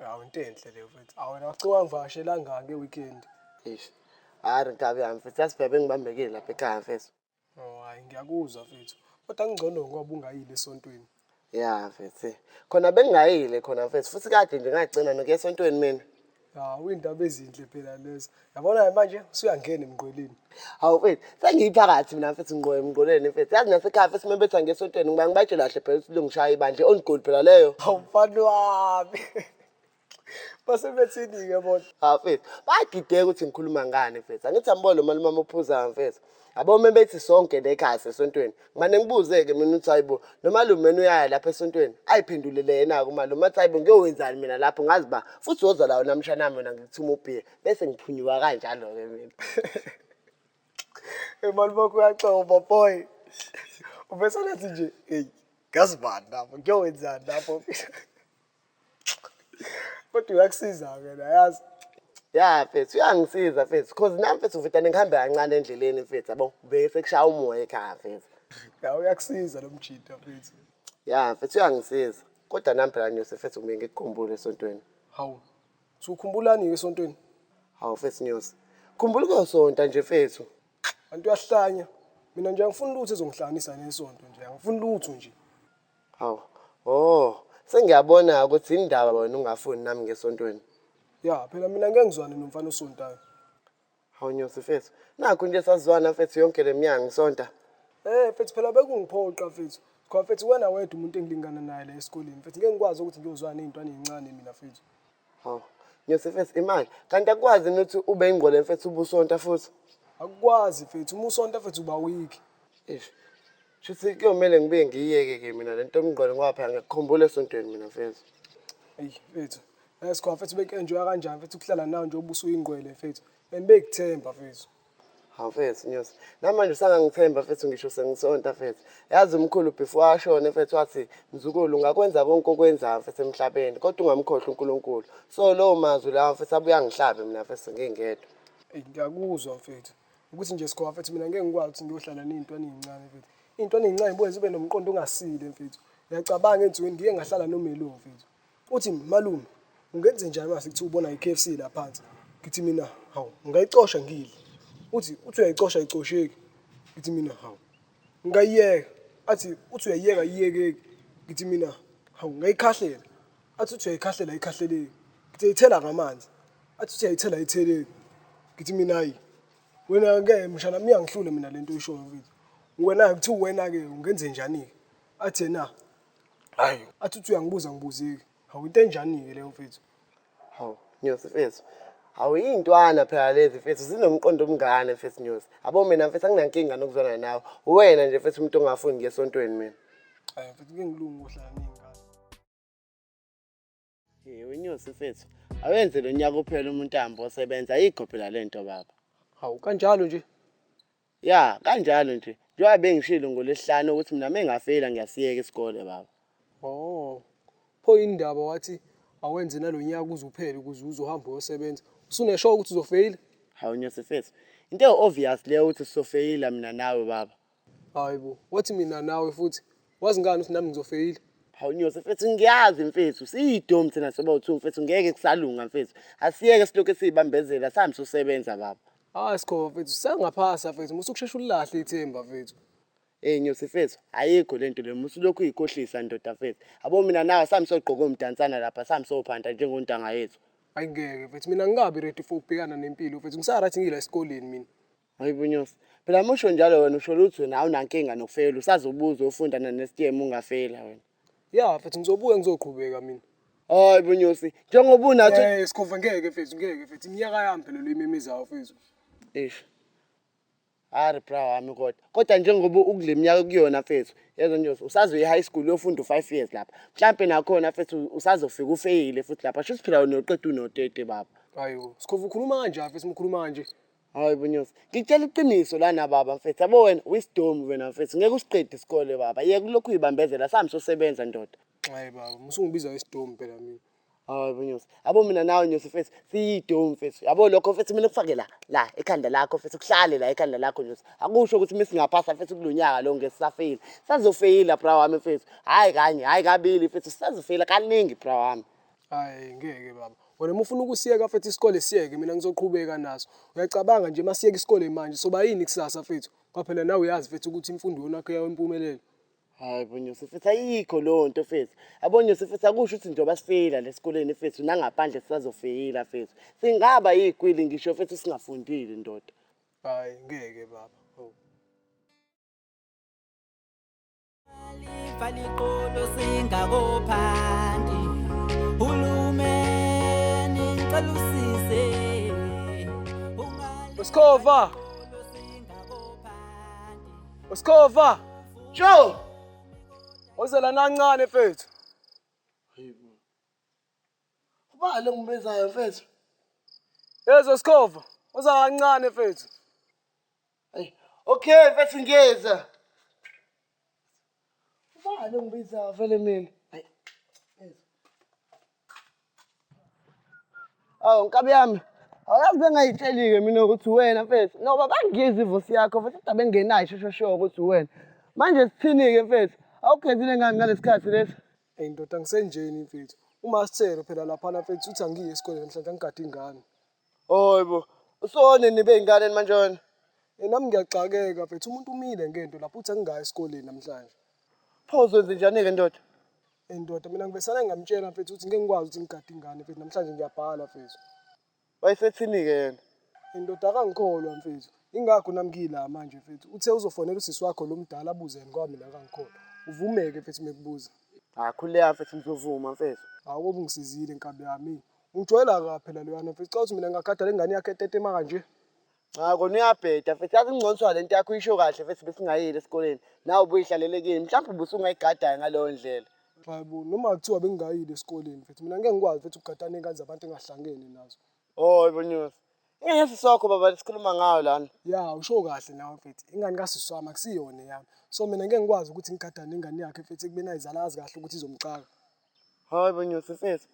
Hawu into enhle leyo mfethu. Hawu wena wacike wangivakashela ngani nge weekend? Eish. Hayi nkabi yami mfethu yasibhebe ngibambekile lapha ekhaya mfethu. Oh hayi ngiyakuzwa mfethu. Kodwa kungcono ngoba ungayile esontweni. Ya mfethu. Khona bengingayile khona mfethu futhi kade nje ngagcina nokuya esontweni mina. Hawu indaba ezinhle phela lezo. Yabona manje usuyangena emngqweleni. Hawu mfethu, sengiyiphakathi mina mfethu ngqo emngqweleni mfethu. Yazi nasekhaya mfethu uma betha ngesontweni ngiba ngibatshela kahle phela ukuthi longishaya ibandla i-on goal phela leyo. Hawu mfana wami. Base bethini-ke bona. Hawu mfethu, bayadideka ukuthi ngikhuluma ngani mfethu. Angithi ambo lo malume amophuzayo mfethu. Yabo uma bethi sonke lekhaya sesontweni. Ngimane ngibuze-ke mina ukuthi hayibo lo malume mina uyaya lapha esontweni. Ayiphendulele yena-ke umalume athi hayibo ngiyowenzani mina lapho ngazi ba futhi woza lawo namshana mina ngikuthuma ubhiya. bese ngiphunyuka kanjalo-ke mina emali bakho uyaxoba boy ubesanathi nje eyi ngazi bani lapho ngiyowenzani lapho kodwa uyakusiza-ke nayazi ya mfethu uyangisiza mfethu cause nami mfethu ngifitane ngihambe kancane endleleni mfethu yabo ngibeke sekushaya umoya ekhaya mfethu ya uyakusiza lo mjita mfethu ya mfethu uyangisiza kodwa nami phela nyose mfethu ngibe ngikukhumbule esontweni hawu Sukhumbulani esontweni? Hawu fethu Nyosi. Khumbula ukuyosonta nje fethu. Kanti uyahlanya. Mina nje angifuni lutho ezongihlanganisa nesonto nje. Angifuni lutho nje. Hawu. Oh, sengiyabona ukuthi indaba wena ungafuni nami ngesontweni. Ya, phela mina ngeke ngizwane nomfana osontayo. Hawu Nyosi mfethu, nakho nje sazwana mfethu yonke le minyaka ngisonta. Eh mfethu phela bekungiphoqa mfethu. Cha mfethu wena wedwa umuntu engilingana naye la esikoleni mfethu. Ngeke ngikwazi ukuthi ngiyozwana nezintwana ezincane mina mfethu. Hawu Nyosi mfethu imali. Kanti akwazi ukuthi ube ingqole mfethu ubusonta futhi. Akukwazi mfethu uma usonta mfethu uba weak. Eish. Shuthi kuyomele ngibuye ngiyiyeke ke mina lento yomngqole ngoba phela ngiyakukhumbula esontweni mina mfethu. Eyi mfethu Yes, khona mfethu bekuenjoya kanjani mfethu ukuhlala nawe nje ubuso uyingqwele mfethu. And bekuthemba mfethu. Hawu mfethu Nyosi. Namanje usangangithemba mfethu ngisho sengisonta mfethu. Yazi umkhulu before ashone mfethu wathi mzukulu ungakwenza konke okwenzayo mfethu emhlabeni kodwa ungamkhohlwa uNkulunkulu. So lowo mazwi lawa mfethu abuya ngihlabe mina mfethu ngingedwa. Ey ngiyakuzwa mfethu. Ukuthi nje sikhona mfethu mina ngeke ngikwazi ukuthi ngiyohlala nezintwana ezincane mfethu. Izintwana ezincane zibuye zibe nomqondo ongasile mfethu. Ngiyacabanga ensukwini ngike ngahlala noMelo mfethu. Uthi malume ungenze njani mase kuthiwa ubona i-KFC la phansi ngithi mina hawu ngayicosha ngidle uthi uthi uyayicosha ayicosheki ngithi mina hawu ngayiyeka athi uthi uyayiyeka iyekeki ngithi mina hawu ngayikhahlela athi uthi uyayikhahlela ayikhahleleki ngithi ayithela ngamanzi athi uthi ayithela ayitheleki ngithi mina hayi wena-ke mshana miyangihlule mina le nto oyishoyo mfethu wena-ke kuthiwa wena-ke ungenze njani-ke athi yena Hayi. Athi uthi uyangibuza ngibuzeki. Hawu into enjani ke leyo mfethu? Hawu, Nyosi mfethu. Hawu iy'ntwana phela lezi mfethu zinomqondo omngane mfethu Nyosi. Yabo mina mfethu anginankinga nokuzwana nawe. Uwena nje mfethu umuntu ongafuni ngiye esontweni mina. Hayi mfethu ke ngilungu ohlala ney'ngane. Hey wenyosi mfethu. Awenze lo nyaka uphela umuntu ahambe osebenza ayikho phela lento baba. Hawu kanjalo nje. Ya, kanjalo nje. Njengoba bengishilo ngolesihlanu ukuthi mina mengafeyila ngiyasiyeka isikole baba. Oh. Pho indaba wathi awenze nalonyaka uze uphele ukuze uzohamba uyosebenza. Usunesho ukuthi uzofeyila? Hawu nyosi mfethu. Into ewu-obvious leyo ukuthi sofeyila mina nawe baba. Hayi bo, wathi mina nawe futhi. Wazi ngani ukuthi nami ngizofeyila? Hawu Nyosi mfethu ngiyazi mfethu siyidomu thina sobawu-two mfethu ngeke kusalunga mfethu. Asiyeke silokhu siyibambezela sihambe sosebenza baba. Hayi Sikhova mfethu sisangaphasa mfethu musa ukushesha ulilahle ithemba mfethu. Ey Nyosi mfethu ayikho lento le musa ulokhu uyikhohlisa ndoda mfethu. Yabo mina nawe sihambe sogqoka omdansana lapha sihambe sophanta njengontanga yethu. Hayi ngeke mfethu mina angikabi ready for ukubhekana nempilo mfethu ngisaright ngila esikoleni mina. Ayibunyusi. Phela musho njalo wena usho lutho wena awunankinga nokufeyela usazobuza ufunda nesitiyemu ungafeyela wena. Ya mfethu ngizobuya ngizoqhubeka mina. Hayi bunyosi njengoba unathi. Eh sikhova ngeke mfethu ngeke mfethu iminyaka yami phela lo imemezayo mfethu. Eish. Ari bra wami kodwa. Kodwa njengoba ukule minyaka kuyona mfethu yezwa nje usazoyi high school uyofunda u5 years lapha. Mhlambe nakhona mfethu usazofika ufeyile futhi lapha. Shuthi phela wena uqeda unotete baba. Hayibo sikhova ukhuluma kanjani mfethu ukhuluma kanje. Hayi bunyosi. Ngitshela iqiniso lana baba mfethu. Yabo wena wisdom wena mfethu. Ngeke usiqede isikole baba. Yeka ulokhu uyibambezela sami sosebenza ndoda. Hayi baba, musungibiza ngesidomu phela mina. Hayi bunyosi. Yabo mina nawe nyosi mfethu siyidomu mfethu. Yabo lokho mfethu mina kufake la la ekhanda lakho mfethu kuhlale la ekhanda lakho nyosi. Akusho ukuthi mina singaphasa mfethu kulonyaka lo ngeke sisafeyila. Sazofeyila bra wami mfethu. Hayi kanye, hayi kabili mfethu sazofeyila kaningi bra wami. Hayi ngeke baba. Wena uma ufuna ukusiyeka mfethu isikole siyeke mina ngizoqhubeka naso. Uyacabanga nje masiyeka isikole manje soba yini kusasa mfethu? Ngoba phela nawe uyazi mfethu ukuthi imfundo iyonakhe yawo impumelelo. Hayi bonyose mfethu ayikho leyo nto mfethu. Abonyose mfethu akusho ukuthi njengoba sifeyila lesikoleni mfethu nangaphandle sisazofeyila mfethu. Singaba yikwili ngisho mfethu singafundile ndoda. Hayi ngeke baba. Faliqolo singakophandi hulumeni ngicela usize Usikhova Usikhova Joe Ozela nancane mfethu Hayibo Ubale ngibezayo mfethu Yezo Sikhova uza kancane mfethu Ay, okay mfethu ngiyeza. Ubani ongibiza vele mina? Ay. Aw nkabi yami. Awuyazi bengayitsheli-ke mina ukuthi wena mfethu. Ngoba bangiyiza ivosi yakho futhi kodwa bengenayo shosho sho ukuthi wena. Manje sithini-ke mfethu? Awugezile ngani ngalesikhathi lesi? Eyi ndoda ngisenjeni mfethu. Uma sithelo phela laphana mfethu uthi angiyi esikoleni namhlanje angigade ingane. Hhayi bo, usone nibe yingane manje wena. Eyi nami ngiyaxakeka mfethu umuntu umile ngento lapho uthi angingayi esikoleni namhlanje. Pho uzwenze njani-ke ndoda? Eyi ndoda mina ngivesane ngamtshela mfethu ukuthi ngeke ngikwazi ukuthi ngigade ingane mfethu namhlanje ngiyabhala mfethu. Wayesethini-ke yena? Eyi ndoda akangikholwa mfethu. Ingakho nami ngiyila manje mfethu. Uthe uzofonela usisi wakho lo mdala abuze yena ngoba mina akangikholwa. Uvumeke mfethu uma ekubuza. Hhayi khuleka mfethu ngizovuma mfethu. Hhawu kobe ungisizile nkabi yami. Ujwayela ka phela loyana mfethu ucabanga ukuthi mina ngingakhathala ingane yakhe etetema kanje. Cha kona uyabheda mfethu yazi ingconswa le nto yakho uyisho kahle mfethu besingayeli esikoleni nawe ubuyihlalele kini mhlawumbe ubusungayigadayo ngaleyo ndlela. Hayibo noma kuthiwa bengingayile esikoleni mfethu mina ngeke ngikwazi mfethu ukugada ney'ngane zabantu engahlangene nazo. Oh ibonyosi. Ingane yasisi wakho baba lesikhuluma ngayo lana. Ya usho kahle nawe mfethu ingane kasisi wami akusiyona eyami. So mina ngeke ngikwazi ukuthi ngigadane ingane yakhe mfethu ekubeni ayizala azi kahle ukuthi izomcaka. Hayi bo Nyosi mfethu.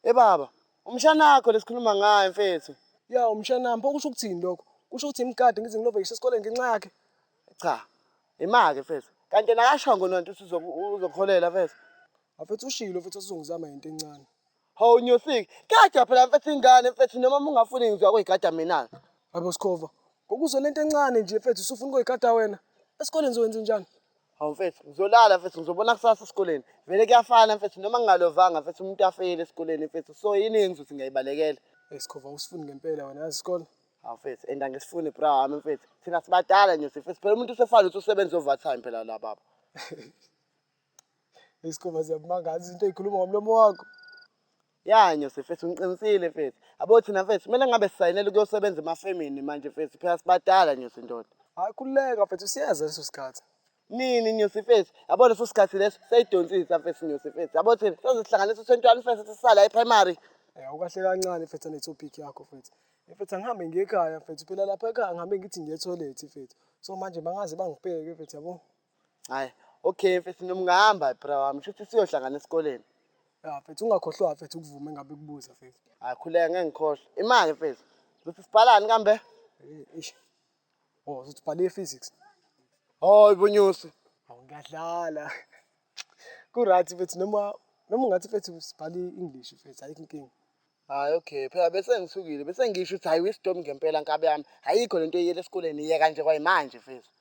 Hey baba, umshana wakho lesikhuluma ngaye mfethu. Ya umshana wami, pho kusho ukuthini lokho? Kusho ukuthi imgade ngize ngilove ngisho esikoleni ngenxa yakhe? Cha. Imake mfethu. Kanti yena akashongo nonto ukuthi uzokuholela mfethu. Afethu ushilo mfethu usizongizama yinto encane. Hawu Nyosiki, gada phela mfethu ingane mfethu noma mungafuni ngizwa kuyigada mina. Hayibo Sikhova, ngokuzwe lento encane nje mfethu usufuna ukuyigada wena? Esikoleni zowenza njani? Hawu mfethu, ngizolala mfethu, ngizobona kusasa esikoleni. Vele kuyafana mfethu, noma ngingalovanga mfethu, umuntu afeyile esikoleni mfethu. So yini engenza ukuthi ngiyayibalekela? Hey Sikhova, usifuni ngempela wena yazi isikole. Hawu mfethu, and angisifuni bra wami mfethu. Thina sibadala nje mfethu. Phela umuntu usefana ukuthi usebenza overtime phela la baba. Hey Sikhova, ziyakumangaza izinto ey'khuluma ngomlomo wakho. Ya Nyose mfethu ngiqinisile mfethu. Abo thina mfethu kumele ngabe sisayinela ukuyosebenza emafemini manje mfethu phela sibadala Nyose ndoda. Hayi khululeka mfethu siyeza leso sikhathi. Nini Nyose mfethu? Yabo leso sikhathi leso seyidonsisa mfethu Nyose mfethu. Yabo thina sezihlanganisa u-21 mfethu sisala e-primary. Eh ukahle kancane mfethu ne topic yakho mfethu. Mfethu angihambe ngiye ekhaya mfethu phela lapha ekhaya ngihambe ngithi ngiye toilet mfethu. So manje bangaze bangibheke mfethu yabo. Hayi. Okay mfethu noma ungahamba bra wami shuthi siyohlangana esikoleni. Ya mfethu ungakhohlwa mfethu ukuvume ngabe kubuza mfethu. Hayi khuleka ngeke ngikhohlwe. Imali mfethu. Uzothi sibhalani kambe? Eh, Eish. Oh, uzothi bhala i-physics. Hayi bonyusi. Hawu ngiyadlala. Ku-right mfethu noma noma ungathi mfethu sibhala i-English mfethu ayikho inkinga. Hayi okay phela bese ngisukile bese ngisho ukuthi hayi wisdom ngempela nkabi yami ayikho lento eyiyela esikoleni iyeka nje kwayimanje mfethu.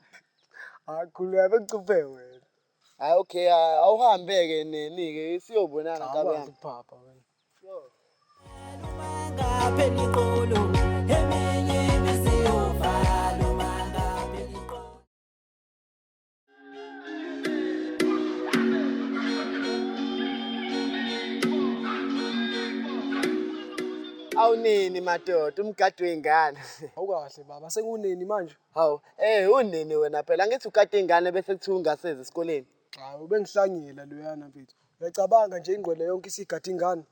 Akhuleka bekucuphe wena. Hayi okay ah, awuhambe-ke neni ke siyobonana nkabi Awazi yami. ukuphapha wena. Awunini madoda umgadi wey'ngane. Awukahle baba sekunini manje? Hawu eh unini wena phela angithi ukade iy'ngane bese kuthiwa ungasezi esikoleni. Hawu bengihlangile loyana mfethu. Uyacabanga nje ingqwele yonke isigade ingane.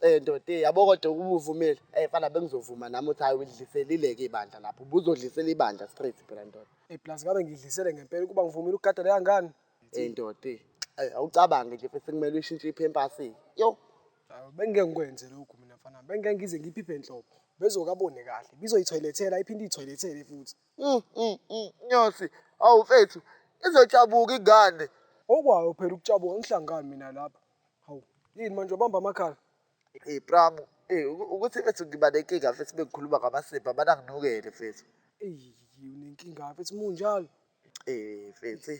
Eh ndoda eh, yabo kodwa ubuvumile. Eh fana bengizovuma nami uthi hayi udliselile ke ibandla lapho. Ubuzodlisela ibandla straight phela ndoda. Eh plus ngabe ngidlisele ngempela ukuba ngivumile ukugada leya ngane. Eh ndoda eh, eh, awucabange nje futhi kumele uyishintshe iphempasi. Yo. Ah, bengeke ngikwenze lokhu mina mfana. Bengeke ngize ngiphiphe enhloko. Bezokabone kahle. Bizoyithoyilethela iphinde ithoyilethele futhi. Mm, mm, mm, Nyosi, awu mfethu, izojabuka ingane. Okwayo phela ukujabuka ngihlangani mina lapha. Hawu, yini manje ubamba amakhala? Hey Pramu, hey ukuthi mfethu ngiba nenkinga mfethu bengikhuluma ngamasipho abana nginukele mfethu. Ey, unenkinga mfethu munjalo. Eh mfethu.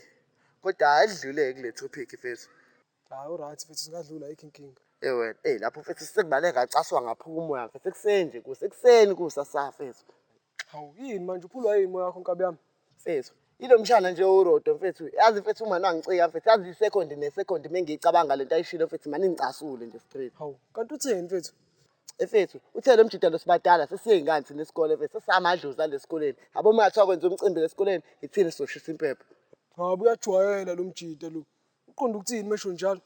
Kodwa ayidlule kule topic mfethu. Hayi uright mfethu singadlula ayikho inkinga. Eh wena, eh lapho mfethu sengibale ngacaswa ngaphuma umoya mfethu ekuseni nje kusekuseni kusa safethu. Hawu yini manje uphulwa yini moya wakho nkabi yami? Mfethu, ilo mshana nje owurodo mfethu. Yazi mfethu uma nangicika mfethu, yazi isekondi nesekondi mengiyicabanga lento ayishilo mfethu, mani ngicasule nje straight. Hawu, kanti utheni mfethu? Efethu, uthe lo mjita lo sibadala sesiyey'ngane thina isikole mfethu, sesiyamadlozi ale sikoleni. Yabo uma ngathiwa kwenza umcimbi la esikoleni, yithina sizoshisa impepho. Hawu, uyajwayela lo mjita lo. Uqonde ukuthini uma esho njalo?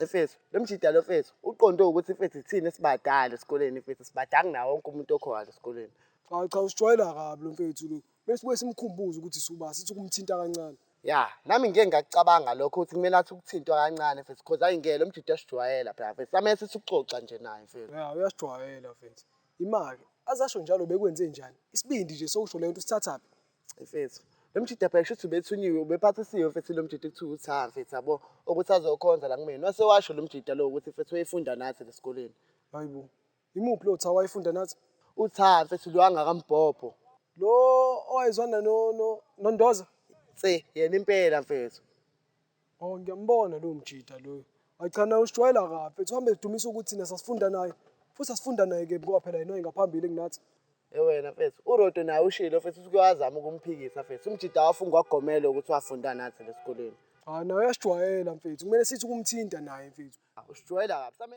Efethu, lo mjita lo mfethu, uqonde ukuthi mfethu yithina esibadala esikoleni mfethu, sibadanga nawo wonke umuntu okhona la esikoleni. Hawu cha, usijwayela kabi lo mfethu lo. Bese sibuye simkhumbuze ukuthi suba sithi ukumthinta kancane. Ya, nami ngike ngakucabanga lokho ukuthi kumele athi ukuthintwa kancane mfethu because ayi ngeke lo mjita sijwayela phela mfethu. Samele sithi ukuxoxa nje naye mfethu. Ya, uyasijwayela mfethu. Imake azasho njalo bekwenze njani? Isibindi nje sokusho le nto sithathaphi? Mfethu, lo mjita phela shuthi ubethunyiwe ubephathisiwe mfethu lo mjita kuthiwa uthi ha mfethu yabo ukuthi azokhonza la kumina. Wase washo lo mjita lo ukuthi mfethu wayefunda nathi lesikoleni. Hayibo. Imuphi lo Tha wayefunda nathi? UTha mfethu lo angakambhobho. Lo owayezwana no no noNdoza? Se yena impela mfethu. Oh ngiyambona lo mjita loyo. Ayichana usijwayela kabi mfethu uhambe edumisa ukuthi thina sasifunda naye. Futhi asifunda naye ke ngoba phela yena ngaphambili kunathi. Ewena mfethu uRodo naye ushilo mfethu usuke wazama ukumphikisa mfethu. Umjita wafunga wagomela ukuthi wafunda nathi lesikoleni. Hayi ah, naye uyasijwayela mfethu. Kumele sithi kumthinta naye mfethu. Usijwayela kabi.